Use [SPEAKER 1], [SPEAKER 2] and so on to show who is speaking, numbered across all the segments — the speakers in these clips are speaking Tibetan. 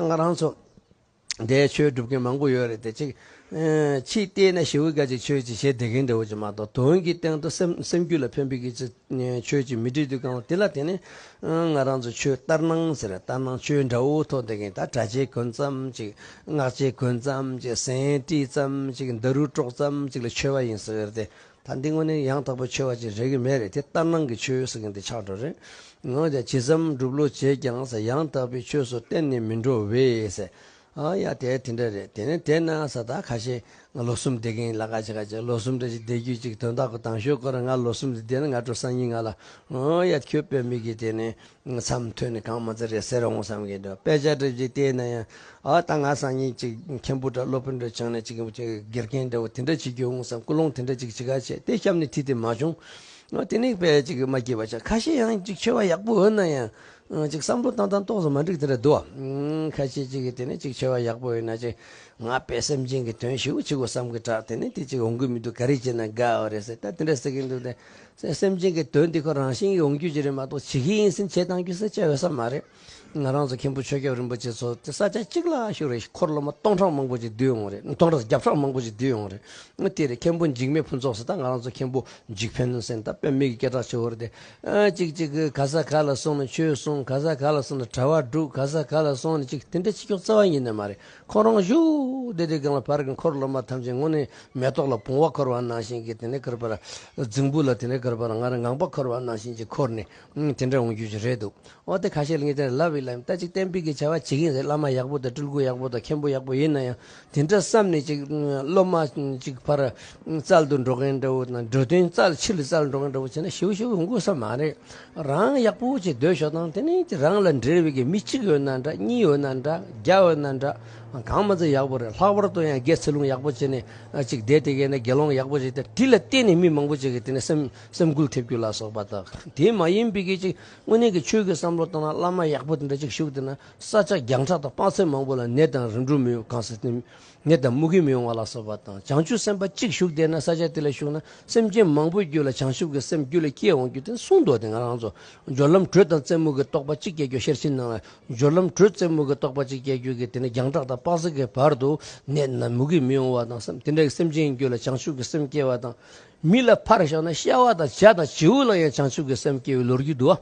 [SPEAKER 1] ང་རང་ཚོ་འདས་ཆོས་སྒྲུབ་མཁན་མང་པོ་ཡོད་རེད་དེ་ཅིག། ཕྱིས་བལྟས་ན་ཞི་བུ་སྐད་ཅིག་ཆོས་ཅིག་བྱེད་བདེ་མཁན་དེ་འོ་ཅིག་མ་གཏོགས་དོན་གྱི་སྟེང་དུ་སེམས་རྒྱུད་ལ་ཕན་པའི་སྐད་ཅིག་ཆོས་ཅིག་མི་འབྲི་དུས་གང་ལ་དེ་ལ་དེ་ནི། ང་རང་ཚོ་ཆོས་ལྟར་སྣང་ཟེར་ལྟར་སྣང་ཆོས་འདྲ་བོ་ཐོག་འདེད་མཁན་ད་གྲྭ་ཆས་གོན་ཙམ་ཅིག་སྔགས་ཆས་གོན་ཙམ་ཅིག་ཟན་དཀྲིས་ཙམ་ཅིག་འདི་རུ་དཀྲོག་ཙམ་ཅིག་ལ་ཆོས་པ་ཡིན་ཟེར་བའི་རེད་དེ། ད་འདི་དངོས་གནས་ཡང་དག་པའི་ཆོས་བ་ཅིག་རེག་གི་མེད་རེད་དེ་ལྟར་སྣང་གི་ཆོས་ཟེར་མཁན་དེ་ཆགས་འགྲོ་རེད་འོན་ཀྱང་ཇི་ཙམ་སྒྲུབ་ལོ་བྱས་ཀྱང་ཟ་ཡང་དག་པའི་ཆོས་སུ་གཏན་ནས་མི་འགྲོ་བས་ཟེར་ཨ་ཡ་དེ་དེ་འདྲ་རེད་དེ་ནས་དེ་ན་ས་ད་ཁ་ཤས་ང་ལོ་གསུམ་བསྡད་མཁན་ཡིན་ལ་ཁ་ཤས་ཁ་ཤས་ལོ་གསུམ་རེ་ཞིག་བསྡད་རྒྱུ་ཅིག་དོན་དག་གོ་དང་ཞོག་ཁོ་རང་ང་ལོ་གསུམ་ཟིན་བསྡད་ན་ང་སྤྲོ་ས་ཉིད་ང་ལ་ཨ་ཡ་ཁྱོད་དཔེ་མི་དགེ་དེ་ནས་མཚམས་མཐུད་ནས་གང་མ་རྩེ་རེད་ཟེར་འོང་བསམ་གྱི་འདུག་དཔེ་ཆ་འགྲེལ་བྱེད་དེ་ན་ཡང་ཨ་ད་ང་སང་ཉིན་གཅིག་མཁན་པོ་འདྲ་སློབ་དཔོན་འདྲ་བྱང་ནས་གཅིག་དགེ་རྒན་འདྲ་བོ་དེ་འདྲ་བྱེད་རྒྱུ་འོང་བསམ་ཀུན་སློང་དེ་འདྲ་ཅིག་ཇི་ག་བྱས་དེ་སྐྱབས་ནས་ཐིག་དེ་མ་བྱུང། དེ་ནི་དཔེ་ཅིག་མ་སྐྱེས་པ་ཆགས་ཁ་ཤས་ཡང་ཅིག་ཆེ་བ་ཡག་པོ་འོས་ན་ཡང་ཅིག་བསམ་བློ་བཏང་བཏང་ཏོག་ཙམ་མ་འགྲིག་དེ་འདྲ་འདུག་བ། ཁ་ཤས་ཅིག་གིས་དེ་ནི་ཅིག་ཆེ་བ་ཡག་པོ་འོས་ན་ཅིག་ང་དཔེ་སེམས་ཅན་གྱི་དོན་ཞིག་འོ་ཅིག་འོ་བསམ་གྱི་གྲགས་དེ་ནི་དེ་ཅིག་འོང་གི་མི་འདུག་ག་རེ་བྱས་ན་དགའ་བ་རེད་ཟེར་ད་དེ་འདྲ་ཟེར་གྱི་འདུག་དེ། སེམས་ཅན་གྱི་དོན་དེ་ཁོ་རང་བཞིན་ཡོང་རྒྱུ་ཅི་རེད་མ་གཏོགས་ཇི་སྐད་ཡིན་ཟིན་བྱེད་བཏང་རྒྱུ་ཟེར་བྱ་ཡོད་ས་མ་རེད། ང་རང་ཚོ་མཁན་པོ་ཆོས་སྐྱབས་རིན་པོ་ཆེ་ཚོ་ས་ཆ་གཅིག་ལ་ཞུགས་རེས་འཁོར་སློབ་མ་སྟོང་ཕྲག་མང་པོ་ཅིག་བསྡུས་ཡོང་རེས་སྟོང་ཕྲག་བརྒྱ་ཕྲག་མང་པོ་ཅིག་བསྡུས་ཡོང་རེས་དེ་རེས་མཁན་པོ་འཇིགས་མེད་ཕུན་ཚོགས་ཟེར་ད་ང་རང་ཚོ་མཁན་པོ་འཇིགས་ཕན་ཟེར་ད་དཔོན་མི་གི་སྐད་གྲགས་ཆེ་བོ་རེད་དེ། ཅིག་ཅིག་གིས་ག་ས་ག་ལ་སོང་ནས་ཆོས་གསུངས་ག་ས་ག་ལ་སོང་ནས་གྲྭ་བ་བསྒྲུགས་ག་ས་ག་ལ་སོང་ནས་ཅིག་དེ་འདྲའི་ཕྱི་ཕྱོགས་རྩ་བ་ཉིད་ནས་མ་རེད། ཁོང་རང་བཞུགས་བདེ་དེ་གང་ལ་བར་གྱི་འཁོར་སློབ་མ་ཐམས་ཅད་སྔོན་ནས་མེ་ཏོག་ལ་བུང་བ་འཁོར་བ་ནང་བཞིན་གྱིས་དེ་ནས་འཁོར་བར། རྫིང་བུ་ལ་དེ་ནས་འཁོར་བར་སྔར་ངང་པ་འཁོར་བ་ནང་བཞིན་གྱིས་འཁོར་ནས་དེ་འདྲ་འོང་རྒྱུ་ཞིག་རེད་འདུག་འོ་དེ་ཁ་ཤས་ལ་ངས་དེ་འདྲ་ལབ་ཡིན་ལབ་ཡིན་ལྟ་ཅིག་གཏན་འབེབས་ཀྱི་བྱ་བ་བྱེད་ཀྱིན་རེད་བླ་མ་ཡག་པོ་དང་སྤྲུལ་སྐུ་ཡག་པོ་དང་མཁན་པོ་ཡག་པོ་ཡིན་ན་ཡང་དེ་འདྲ་བསམ་ནས་ཅིག་སློབ་མ་ཅིག་ཕར་རྩལ་དུ་འགྲོ་མཁན་འདྲ་བོ་དང་འགྲོ་དོན་རྩལ་ཕྱིར་རྩལ་འགྲོ་མཁན་འདྲ་བོ་བྱས་ན་ཞེ་བོ་ཞེ་བོ་འོང་དགོས་ས་མ་རེད། རང་ཡག་པོ་ཅིག་སྡོད་ཤོག་དང་དེ་ནས་རང་ལ་འབྲེལ་བའི་གི་མི་གཅིག་ཡོད་ན་འདྲ་གཉིས་ཡོད་ན་འདྲ་བརྒྱ་ཡོད་ན་འདྲ་གང་མ་ཚད་ཡག་པོ་རེད་ལྷག་པར་དུ་ཡང་རྒྱའི་ཚིག་ལུང་ཡག་པོ་བྱས་ནས་ཅིག་བསྡད་དེ་གས་ན་དགེ་སློང་ཡག་པོ་ཅིག་དེ་དེ་ལ་བརྟེན་ནས་མི་མང་པོ་ཅིག་གི་དེ་ནས་སེམས་སེམས་འགུལ་ཐེབས་རྒྱུ་ལ་སོགས་པ་དག་དེ་མ་ཡིན་པའི་གི་ཅིག་དངོས་གནས་གི་ཆོས་གི་བསམ་བློ་དང་བླ་མ་ཡག་པོ་དེ་འདྲ་ཅིག་བཞུགས་དེ་ན་ས་ཆ་རྒྱང་གྲགས་དང་དཔག་ཚད་མང་པོ་ལ་ནད་དང་རིམ་གྲོ་མི་ཡོང་གང་ཟེར་དེ་ནད་དང་རྨུ་གུ་མི་འོང་བ་ལ་སོགས་པ་དང་བྱང་ཆུབ་སེམས་དཔའ་གཅིག་ཞུགས་དེ་ན་ས་ཆ་དེ་ལ་ཞུགས་ན་སེམས་ཅན་མང་པོའི་རྒྱུད་ལ་བྱང་ཆུབ་ཀྱི་སེམས་རྒྱུད་ལ་སྐྱེས་འོང་རྒྱུ་དེ་ནི་གསུང་མདོ་སྡེ་ང་རང་ཚོ་སྦྱོར་ལམ་དྲོད་དང་རྩེ་མུག་གི་རྟོག་པ་གཅིག་སྐྱེ་རྒྱུ་ཤེར་ཕྱིན་ནང་ལ་སྦྱོར་ལམ་དྲོད་རྩེ་མུག་གི་རྟོག་པ་གཅིག་སྐྱེ་རྒྱུ་གི་དེ་ནི་རྒྱང་གྲགས་དང་དཔག་ཚད་ཀྱི་བར་དུ་ནད་དང་རྨུ་གུ་མི་འོང་བ་དང་སེམས་དེ་འདྲ་ཡི་སེམས་ཅན་རྒྱུད་ལ་བྱང་ཆུབ་ཀྱི་སེམས་སྐྱེ་བ་དང། མི་ལ་ཕར་ཞོག་ན་ཤ་བ་དང་བྱ་དང་བྱེའུ་ལ་ཡང་བྱང་ཆུབ་ཀྱི་སེམས་སྐྱེ་བའི་ལོ་རྒྱུས་འདུག་ཨ།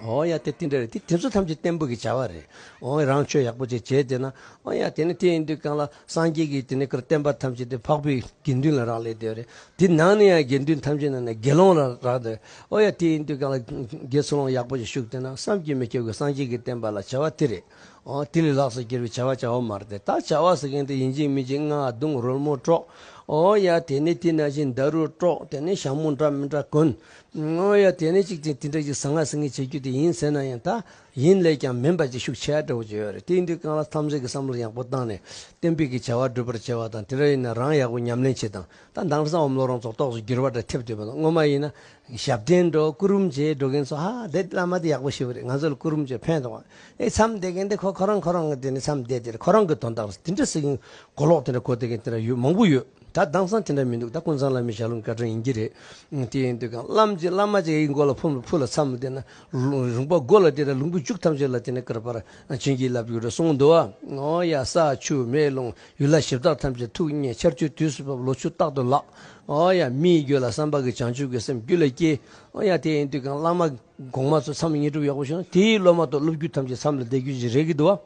[SPEAKER 1] ཨོ་ཡ་དེ་དེ་འདྲ་རེད་དེ་དེ་ཚོ་ཐམས་ཅད་བསྟན་པོ་གི་བྱ་བ་རེད་ཨོ་ཡ་རང་ཆོས་ཡག་པོ་བྱེད་བྱེད་དེ་ན་ཨོ་ཡ་དེ་ནི་དེ་ཡིན་དུས་གང་ལ་སངས་རྒྱས་ཀྱི་དེ་ནི་ཀར་བསྟན་པ་ཐམས་ཅད་དེ་འཕགས་པའི་དགེ་འདུན་ལ་རག་ལས་དེ་རེད་དེ་ནང་ནས་ཡང་དགེ་འདུན་ཐམས་ཅད་ནང་ནས་དགེ་སློང་ལ་རག་དེ་ཨོ་ཡ་དེ་ཡིན་དུས་གང་ལ་དགེ་ཚུལ་སློང་ཡག་པོ་ཞིག་བཞུགས་དེ་ན་བསམ་གྱིས་མི་ཁྱབ་ཀྱི་སངས་རྒྱས་ཀྱི་བསྟན་པ་ལ་བྱ་བ་དེ་རེད་ཨོ་དེ་ལས་ལགས་སོ་ཀྱེ་རེ་བྱ་བ་བྱ་བ་མ་རེད་དེ་ད་བྱ་བ་ཟེར་མཁན་དེ་ཡིན་ཅིང་མིན་ཅིང་རྔ་རྡུང་རོལ་མོ་དཀྲོགས་ཨོ་ཡ་དེ་ནི་དེ་ན་བཞིན་མདའ་རུ་དཀྲོགས་དེ་ནི་ཞྭ་མོ་འདྲ་མི་འདྲ་གོན་ང་ཡ་དེ་ནས་གཅིག་ཅིང་དེ་འདྲ་ཞིག་ཟ་ང་ཟ་ངེ་བྱེད་རྒྱུ་དེ་ཡིན་ཟེར་ན་ཡང་ད་ཡིན་ལས་ཀྱང་མིན་པ་ཅིག་ཤུགས་ཆེ་ཧ་འདྲ་བོ་བྱེད་ཡོད་རེད་དེའི་འདུལ་ཁང་ལ་འཚམས་གཟིགས་ཀྱི་བསམ་བློ་ཡག་པོ་བཏང་ནས་གཏན་འབེབས་ཀྱི་བྱ་བ་སྒྲུབ་པར་བྱེད་པ་དང་དེ་འདྲ་ཡིན་ན་རང་ཡག་པོ་ཉམས་ལེན་བྱེད་དང་ད་འདང་ས་འོམ་བློ་རང་ཚོགས་ཏོགས་སུ་འགྱུར་བ་འདྲ་ཐེབས་འདོད་པ་དང་སྔོན་མ་ཡིན་ན་ཞབས་བརྟན་འགྲོ་སྐུ་རུམ་བྱེད་འགྲོ་མཁན་ཚོ་ཧ་དེ་བླ་མ་དེ་ཡག་པོ་ཞེ་བོ་རེད་ང་ཚོ་ལ་སྐུ་རུམ་བྱེད་ཕན་ཐོག་ཨེ་འཚམས་བསྡད་མཁན་དེ་ཁོ་ཁོ་རང་ཁོ་རང་གི་དེ་ནས་འཚམས་བསྡད་དེ་ཁོ་རང་གི་དོན་དག་རེད་དེ་འདྲ་ཟེར་མཁན་གོ་ལོག་དེ་འདྲ་གོ་བསྡད་མཁན་དེ་འདྲ་ཡོད་མང་པོ་ཡོད། ད་གདངས་སང་དེ་འདྲ་མི་འདུག་ད་ཀུན་བཟང་བླ་མའི་ཞལ་ལུང་བསྐལ་བཀྲོལ་ཡིན་གྱི་རེད། དེ་ཡིན་དུས་ཀྱང་བླ་མ་ཅིག་ཡི་མགོ་ལ་ཕུལ་ལ་མཚམས་བསྡད་ན། རུང་བ་མགོ་ལ་བསྡད་ན་ལུང་བུ་བཅུག་ཐམས་ཅད་ལ་དེ་ནས་བསྐུར་པར་བྱིན་གྱིས་བརླབས་གྱུར་གསུང་མདོ་བ། ཡ། ས་ཆུ་མེ་རླུང་ཡུལ་ལྷ་གཞི་བདག་ཐམས་ཅད་ཐུགས་མཉེས་ཆར་ཆུའི་དུས་སུ་བབ་ལོ་ཆུ་རྟག་ཏུ་བརླག། ཡ། མིའི་རྒྱུད་ལ་བསམ་པ་གི་བྱང་ཆུབ་ཀྱི་སེམས་རྒྱུད་ལ་སྐྱེ། ཡ། དེ་ཡིན་དུས་ཀྱང་བླ་མ་གོང་མ་ཚོ་མཚམས་བསྙེན་སྒྲུབ་ཡག་པོ་བྱུང་ན་དེའི་སློབ་མ་དང་སློབ་རྒྱུད་ཐམས་ཅད་མཚམས་ལ་བསྡད་རྒྱུ་ཞིག་རེད་གི་འདུག་བ།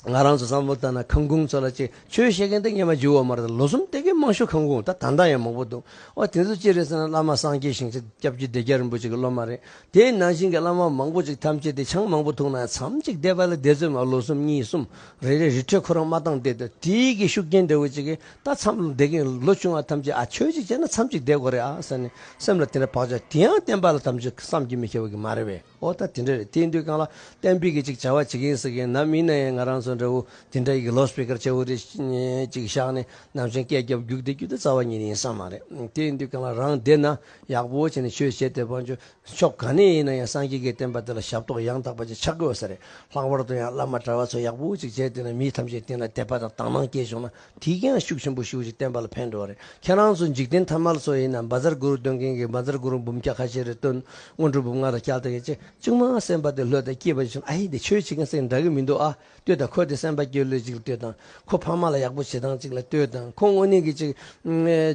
[SPEAKER 1] ང་རང་ཚོ་བསམ་བློ་བཏང་ན་ཁང་ཁུངས་ཚོ་ལ་ཅིག་ཆོས་བཤད་མཁན་དེ་ངེས་པ་འཇུ་བ་མ་རེད་ལོ་གསུམ་སྟེ་གི་དམངས་ཞུགས་ཁང་ཁུངས་ད་ད་འདང་ཡང་མང་པོ་འདུག་ཨོ་དེ་ཚོ་ཅི་རེད་ཟེར་ན་བླ་མ་སངས་རྒྱས་ཞིང་ཆེན་སྐྱབས་རྒྱུད་སྡེ་རྒྱ་རིན་པོ་ཆེ་གི་སློབ་མ་རེད་དེའི་ནང་བཞིན་གི་བླ་མ་མང་པོ་ཅིག་ཐམས་ཅད་དེ་ཆང་མང་པོ་འཐུང་ན་ཡང་མཚམས་གཅིག་བསྡད་པ་ལ་བསྡད་ཚོད་མ་ལོ་གསུམ་གཉིས་གསུམ་རེ་རེ་རི་ཁྲོད་ཁོ་རང་མ་བཏང་བསྡད་དུ་དེ་གི་ཤུགས་རྐྱེན་འདྲ་བོ་ཅིག་གིས་ད་མཚམས་ལོ་བསྡད་མཁན་ལོ་ཆུང་བ་ཐམས་ཅད་ཨ་ཆོས་ཅིག་བྱས་ན་མཚམས་གཅིག་བསྡད་དགོས་རེད་ཨ་ཟེར་ནས་སེམས་ལ་དེ་འདྲ་བག་ཆགས་དེ་ཡང་བསྟན་པ་ལ་ཐམས་ཅད་བསམ་གྱིས་མི་ཁྱབ་གི་མ་རེད་བས། ཨོ་ད་དེ་འདྲ་རེད་དེའི་འདུལ་ཁང་ལ་གཏན་འབེབས་ཀྱི་ཅིག་བྱ་བ་བྱེད་ཀྱིན་ཟིག་ཡིན་ནམ་མིན་ན་ཡང་ང་རང་ཚོ་འདྲ་བོ་དེ་འདྲ་ཡི་གི་ལོ་སྤི་ཀར་ཆེ་བོ་རེ་ཅིག་བཞག་ནས་ནམ་ཞིག་སྐད་རྒྱབ་རྒྱུགས་དེ་རྒྱུ་དེ་རྩ་བ་ཉིད་ཡིན་ས་མ་རེད་དེའི་འདུལ་ཁང་ལ་རང་བསྡད་ན་ཡག་པོ་བྱས་ནས་ཆོས་བྱས་ཏེ་བང་ཆོས་ཕྱོགས་ག་ནས་ཡིན་ན་ཡང་སངས་རྒྱས་ཀྱི་བསྟན་པ་དེ་ལ་ཞབས་ཏོག་ཡང་དག་པ་ཅིག་ཆགས་དགོས་ས་རེད་ལྷག་པར་དུ་ཡང་བླ་མ་གྲྭ་བ་ཚོ་ཡག་པོ་ཅིག་བྱས་དེ་ནས་མི་ཐམས་ཅད་བསྟེན་ལ་དད་པ་དང་དག་སྣང་སྐྱེས་བྱུང་ན་དེས་ཀྱང་ཤུགས་ཆེན་པོ་ཞུགས་ཅིག་བསྟན་པ་ལ་ཕན་འགྲོ་བ་རེད་ཁྱེད་རང་ཚོ་འཇིག་རྟེན་ཐ་མལ་ཚོ་ཡིན་ན་འབའ་རྩར་གུ་རུ་སྟོན་མཁན་གྱིས་འབའ་རྩར་གུ་རུ་འབུམ་སྐྱ་ཁ་ཤས་རེ་བཏོན་སྔོན་འགྲོ་འབུམ་ལྔ་དང་སྐྱག་དང་ཡེ་ཅེ་ཅུང་མ་གསན་པ་དེ་ལྷོད་དང་སྐྱིད་པ་ཞིག་བྱུང་ཨ་ཧེ་དེ་ཆོས་བྱེད་མཁན་སེང་འདྲ་གི་མི་འདུག་ཨ་ལྟོས་དང་ཁོ་དེ་སེམས་པ་སྐྱོ་ལོས་ཅིག་ལ་ལྟོས་དང་ཁོ་ཕ་མ་ལ་ཡག་པོ་བྱེད་སྟངས་ཅིག་ལ་ལྟོས་དང་ཁོ་དངོས་གནས་ཀྱི་ཅིག་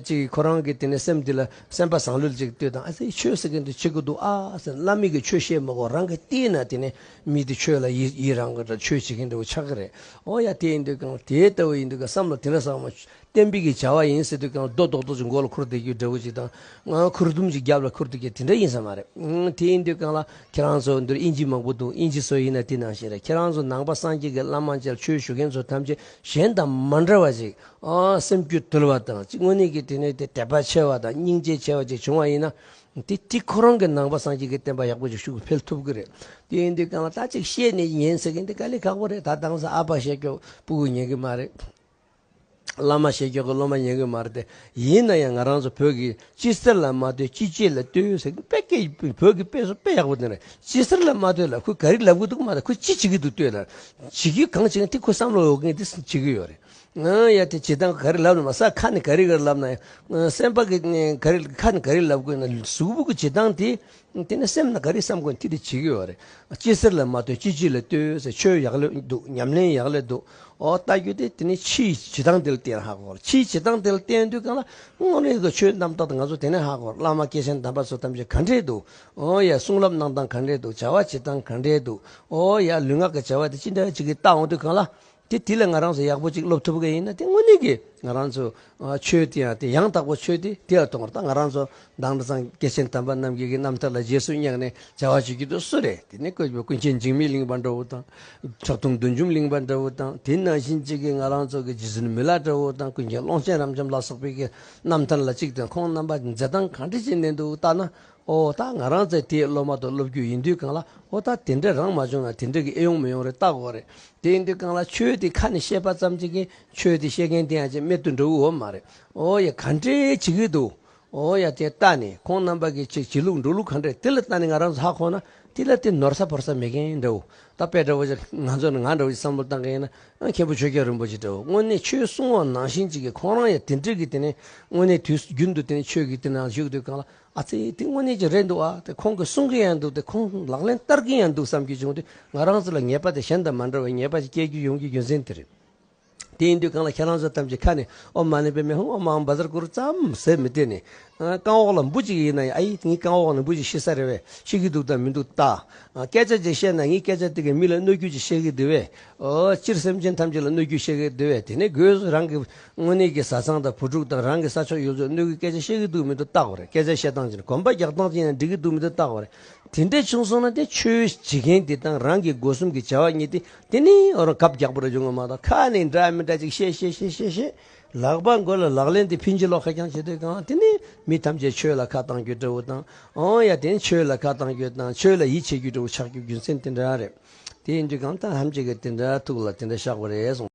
[SPEAKER 1] ཅིག་ཁོ་རང་གི་དེ་ནས་སེམས་དེ་ལ་སེམས་པ་བཟང་ལོས་ཅིག་ལ་ལྟོས་དང་ཨ་ཙི་ཆོས་བྱེད་མཁན་དེ་བྱེད་དགོས་འདུག་ཨ་ཙི་བླ་མེད་ཀྱི་ཆོས་བཤད་མི་དགོས་རང་གི་ལྟས་ན་དེ་ནས་མི་དེ་ཁྱོད་ལ་ཡིད་རང་གི་ཆོས་བྱེད་ཀྱིན་འདུག་པ་ཆགས་ཀྱི་རེད། ཨོ་ཡ་དེ་ཡིན་དུས་ཀྱང་དེ་ལྟ་བུ་ཡིན་དུས་ཀྱང་བསམ་བློ་དེ་འདྲ་བཟང་བ་གཏན་འབེབས་ཀྱིས་བྱ་བ་ཡིན་ཟེར་དུས་ཀྱང་རྡོ་རྡོག་རྡོག་ཅིག་མགོ་ལ་འཁུར་བསྡད་རྒྱུའི་འདྲ་བོ་ཅིག་དང་ང་ཁུར་དུམ་ཅིག་རྒྱབ་ལ་འཁུར་དུས་ཀྱང་དེ་འདྲ་ཡིན་ས་མ་རེད། དེ་ཡིན་དུས་ཀྱང་ལ་ཁྱེད་རང་ཚོ་འདིར་དབྱིན་ཇི་མང་པོ་འདུག་དབྱིན་ཇི་ཚོ་ཡིན་ན་དེ་ནང་བཞིན་རེད་ཁྱེད་རང་ཚོ་ནང་པ་སངས་རྒྱས་ཀྱི་བླ་མ་མཇལ་ཆོས་ཞུ་མཁན་ཚོ་ཐམས་ཅད་གཞན་དང་མ་འདྲ་བ་ཅིག་སེམས་རྒྱུད་དུལ་བ་དང་གཅིག་དངོས་གནས་ཀྱི་དེ་ནས་དེ་དད་པ་ཆེ་བ་དང་སྙིང་རྗེ་ཆེ་བ་ཅིག་བྱུང་བ་ཡིན་ན་དེ་གཅིག་ཁོ་རང་གི་ནང་པ་སངས་རྒྱས་ཀྱི་བསྟན་པ་ཡག་པོ་ཞིག་ཤུགས་འཕེལ་ཐུབ་གི་རེད། དེ་ཡིན་དུས་གང་ལྟ་ཅིག་བཤད་ནས་ཉན་ཟེར་མཁན་དེ་ག་ལི་ཁག་པོ་རེད་ད་དྭངས་ས་ཨ་ཕ་བཤད་ཀྱོག་སྤུ་གུ་ཉན་གི་མ་རེད། བླ་མ་བཤད་ཀྱོག་གི་སློབ་མ་ཉན་གི་མ་རེད་དེ་ཡིན་ན་ཡང་ང་རང་ཚོ་བོད་ཀྱི་སྤྱི་གསར་ལ་མ་ལྟོས་སྤྱི་སྤྱོད་ལ་ལྟོས་ཡོད་ཟེར་མཁན་དཔེ་སྐད་བོད་ཀྱི་དཔེ་གསོ་དཔེ་ཡག་པོ་དེ་རེད་སྤྱི་སར་ལ་མ་ལྟོས་ལ་ཁོས་ག་རི་ལབ་གི་འདུག་མ་ལྟོས་ཁོས་ཅི་བྱེད་ཀྱི་འདུག་ལྟོས་ལ། བྱེད་རྒྱུ་གང་བྱེད་ཀྱི་དེ་ཁོས་བསམ་བློ་འོག་གི་དེ་བྱེད་ཀྱི་ཡོད་རེད། ཡ་དེ་བྱེད་སྟངས་ག་རེ་ལབ་ན་མ་ས་ཁ་ནས་ག་རེ་ག་རེ་ལབ་ན་ཡ། སེམས་པ་གི་ག་རེ་ཁ་ནས་ག་རེ་ལབ་དགོས་ན་གཟུགས་པོ་གི་བྱེད་སྟངས་དེ་དེ་ནས་སེམས་ན་ག་རེ་བསམ་དགོས་ན་དེ་དེ་བྱེད་ཀྱི་ཡོད་རེད། ཅི་ཟེར་ལ་མ་ལྟོས་ཅི་ཅི་ལ་ལྟོས་ཟེར་ཆོས་ཡག་ལེ་འདུག་ཉམས་ལེན་ཡག་ལེ་འདུག་ཨོ་ལྟ་རྒྱུ་དེ་དེ་ནི་ཕྱི་ཡི་བྱེད་སྟངས་དེ་ལ་བརྟེན་ཧ་གོ་ལ་ཕྱིའི་བྱེད་སྟངས་དེ་ལ་བརྟེན་དུས་གང་ལ་སྔོན་རིག་གི་ཆོས་རྣམ་རྟོག་དང་ང་ཚོ་དེ་ནས་ཧ་གོ་བླ་མ་སྐྱེས་ཆེན་དམ་པ་ཚོ་ཐམས་ཅད་ག་འདྲེ་འདུག་ཨོ་ཡ་གསུང་རབ་གནང་སྟངས་ག་འདྲེ་འདུག་བྱ་བ་བྱེད་སྟངས་ག་འདྲེ་འདུག་ཨོ་ཡ་ལུས་ངག་གི་བྱ་བ་དེ་ཅི་འདྲ་ཅིག་གི་བལྟ་འོང་དུས་གང་ལ་དེ་དེ་ལས་ང་རང་ཚོ་ཡག་པོ་ཅིག་སློབ་ཐུབ་མཁན་ཡིན་ན་དེ་དངོས་གནས་ཀྱི་ང་རང་ཚོ་ཆོས་དེ་ཡང་དེ་ཡང་དག་པོ་ཆོས་དེ་དེ་ཡང་གཏོང་བར་ད་ང་རང་ཚོ་བདག་འདྲ་ཚང་སྐྱེས་ཆེན་དམ་པ་རྣམ་རྒྱལ་གྱི་རྣམ་ཐར་ལ་རྗེས་སུ་བསྙེགས་ནས་བྱ་བ་བྱེད་ཀྱི་འདུག་སུ་རེད་དེ་ནི་བཀོད་པའི་ཀུན་མཁྱེན་འཇིགས་མེད་གླིང་པ་འདྲ་བོ་དང། ཁྲག་འཐུང་བདུད་འཇོམས་གླིང་པ་འདྲ་བོ་དང་དེ་ནང་བཞིན་གཅིག་གི་ང་རང་ཚོ་གི་རྗེ་བཙུན་མི་ལ་འདྲ་བོ་དང་ཀུན་མཁྱེན་ཀློང་ཆེན་རབ་འབྱམས་ལ་སོགས་པའི་གི་རྣམ་ཐར་ལ་གཅིག་དང་ཁོང་རྣམ་པ་མཛད་སྟངས་གང་འདྲས་བྱས་ནས་འདུག་བལྟ་ན་ཨོ་ད་ང་རང་ཚེ་འདིའི་སློབ་མ་དང་སློབ་རྒྱུད་ཡིན་དུས་གང་ལ་ཨོ་ད་དེ་འདྲས་རང་མ་བྱུང་ན་དེ་འདྲས་ཀྱི་ཨེ་ཡོང་མི་ཡོང་རེད་བལྟ་དགོས་རེད་དེ་ཡིན་དུས་གང་ལ་ཆོས་འདི་ཁ་ནས་བཤད་པ་ཙམ་གྱིས་ཀྱི་ཆོས་འདི་བཤད་མཁན་དེ་ཡང་ཅི་རྨད་དུ་འགྲོ་བོའི་འོ་མ་རེད་ཨོ་ཡ་ག་འདྲས་བྱེད་ཀྱི་འདུག་ཨོ་ཡ་དེ་ལྟ་ནས་ཁོང་རྣམ་པ་ཀྱི་ཆེད་བྱེད་ལུགས་འགྲོ་ལུགས་ག་འདྲས་དེ་ལ་ལྟ་ནས་ང་རང་ཚོ་ཧ་གོ་ན་དེ་ལ་དེ་ནོར་ས་བོར་ས་མེད་མཁན་འདྲ་བོ་ད་དཔེ་འདྲ་བོ་ཆ་ང་ཚོ་ནི་ང་འདྲ་བོ་ཆ་བསམ་བློ་བཏང་མཁན་ཡིན་ན་མཁན་པོ་ཆོས་རྒྱལ་རིན་པོ་ཆེ་འདྲ་བོ་དངོས་གནས་ཆོས་གསུང་བ་ནང་བཞིན་ཅིག་གི་ཁོང་རང་ཡང་དེ་འདྲས་ཀྱི་དེ་ནས་དངོས་གནས་དུས་རྒྱུན་དུ་དེ་ནས་ཆོས་ཀྱི་དེ་ནང་བཞུགས་དུས་གང་ལ་ཨ་ཙི་དེ་དངོས་གནས་ཀྱི་རེད་འདུག་ཨ་དེ་ཁོང་གིས་གསུང་གི་ཡང་འདུག་དེ་ཁོང་ལག་ལེན་བསྟར་གྱི་ཡང་འདུག་བསམ་གྱི་བྱུང་དུས་ང་རང་ཚོ་ལ་ཉེས་པ་དེ་གཞན་དང་མ་འདྲ་བའི་ཉེས་པ་ཞིག་སྐྱེལ་རྒྱུ་ཡོང་རྒྱུའི་རྒྱུ་མཚན་དེ་རེད། དེ་ཡིན་དུས་གང་ལ་ཁྱེད་རང་ཚོ་ཐམས་ཅད་ཁ་ནས་ཨོ་མ་ནི་པའི་མེ་ཧུང་ཨོ་མའང་འབའ་ཟར་ཀུ་རུ་ཙམ་ཟེར་མི་བདེ་ནས། རྐང་འོག་ལ་འབུ་གཅིག་ཡིན་ན་ཡང་ཨ་ཡིས་ངའི་རྐང་འོག་ནས་འབུ་གཅིག་ཤི་ས་རེད་བས་ཤི་གི་འདུག་དང་མི་འདུག་བལྟ། སྐད་ཆ་གཅིག་བཤད་ན་ངས་སྐད་ཆ་དེ་གའི་མི་ལ་གནོད་རྒྱུ་གཅིག་བཤད་གི་འདུག་བས། སྤྱིར་སེམས་ཅན་ཐམས་ཅད་ལ་གནོད་རྒྱུ་བཤད་གི་འདུག་བས་དེ་ནས་སྒོས་སུ་རང་གི་དངོས་གནས་ཀྱི་བཟའ་ཚང་དང་བུ་ཕྲུག་དང་རང་གི་ས་ཕྱོགས་ཡོད་ཚོད་གནོད་གི་སྐད་ཆ་བཤད་གི་འདུག་མི་འདུག་བརྟག་པ་རེད་སྐད་ཆ་བཤད་སྟངས་ཅི་རེད་གོམ་པ་རྒྱག་སྟངས་ཅི་ཡང་འགྲིག་གི་འདུག་མི་འདུག་བརྟག་པ་རེད། དེ་འདྲས་བྱུང་སོང་ན་དེ་ཆོས་བྱེད་མཁན་དེ་དང་རང་གི་སྒོ་གསུམ་གྱི་བྱ་བ་གཉིས་དེ་དེ་ནི་ཨོ་རང་གབ་རྒྱག་པོ་རེད་བྱུང་ངོ་མ་གཏོགས་ཁ་ནས་འདྲ་མི་འདྲ་ཅིག་བཤད་བཤད་བཤད་བཤད་བཤད་ལག་པ་མགོ་ལ་ལག་ལེན་དེ་ཕིན་ཅི་ལོག་ཁ་རྐྱང་བྱེད་དུས་གང་དེ་ནི་མི་ཐམས་ཅད་ཆོས་ལ་ཁ་གཏང་རྒྱུ་འདྲ་བོ་དང་ཨོ་ཡ་དེ་ནི་ཆོས་ལ་ཁ་གཏང་རྒྱུ་དང་ཆོས་ལ་ཡིད་ཆེས་རྒྱུ་འདྲ་བོ་ཆགས་རྒྱུ་རྒྱུ་མཚན་དེ་འདྲ་རེད་དེ་ཡིན་དུས་གང་ལྟར་ཧམ་བྱེད་ཀྱི་དེ་འདྲ་ཐུགས་ལ་དེ་འདྲ་བཞག་པ་རེད།